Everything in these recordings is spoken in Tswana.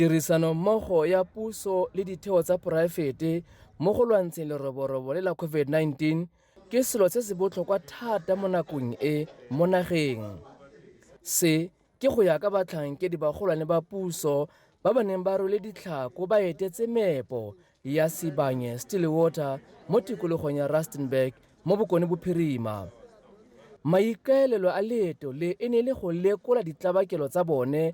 Tirisanommogo ya puso le ditheo tsa poraefete mo go lwantsheng leroborobo le la COVID-19 ke selo se se botlhokwa thata mo nakong e mo nageng. Se ke go ya ka batlhankedi bagolwane ba puso ba ba neng ba rwele ditlhako ba etetse meepo ya Sibanye Stillwater mo tikologong ya Rustenburg mo Bokone Bophirima. Maikaelelo a leeto le e ne e le go lekola ditlabakelo tsa bone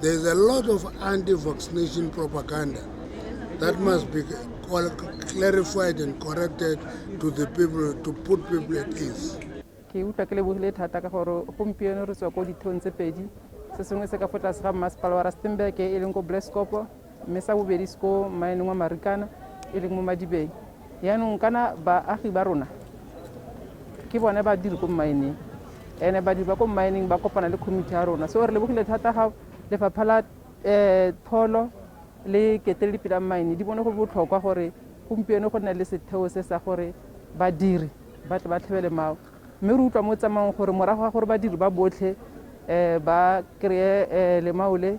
There is a lot of anti-vaccination propaganda that must be clarified and corrected to the people to put people at ease. ke utlwa ke lebogile thata ka gore gompieno re tswa ko dithong tse pedi se sengwe se ka fo tlase ga mmasepala wa rustenburg e leng ko blaskopo mme sa bobedi se ko maeneng wa Marikana e leng mo Madibeng. Yaanong kana baagi ba rona ke bone ba dire ko mmaeneng ene badiri ba ko mmaeneng ba kopana le committee ya rona so re lebogile thata ga lefapha la um tholo le keteledi pela mmaene di bone go botlhokwa gore gompieno go nne le setheo se sa gore badiri ba tle ba tlhebele mao mme re utlwa mo tsamaong gore morago ga gore badiri ba botlhe um ba kry-e um lemaole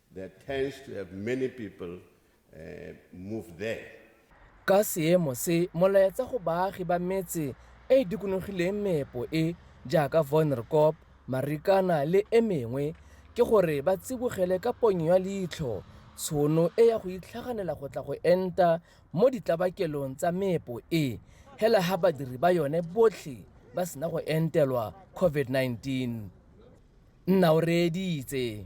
Ka seemo se, molaetsa go baagi ba metse e e dikonogileng meepo e, jaaka Wonderkop, Marikana le e mengwe, ke gore ba tsibogele ka ponyo ya leitlho tshono e ya go itlhaganela go tla go enta mo ditlabakelong tsa meepo e, hela ha badiri ba yone botlhe ba sena go entelwa COVID-19. nna o reeditse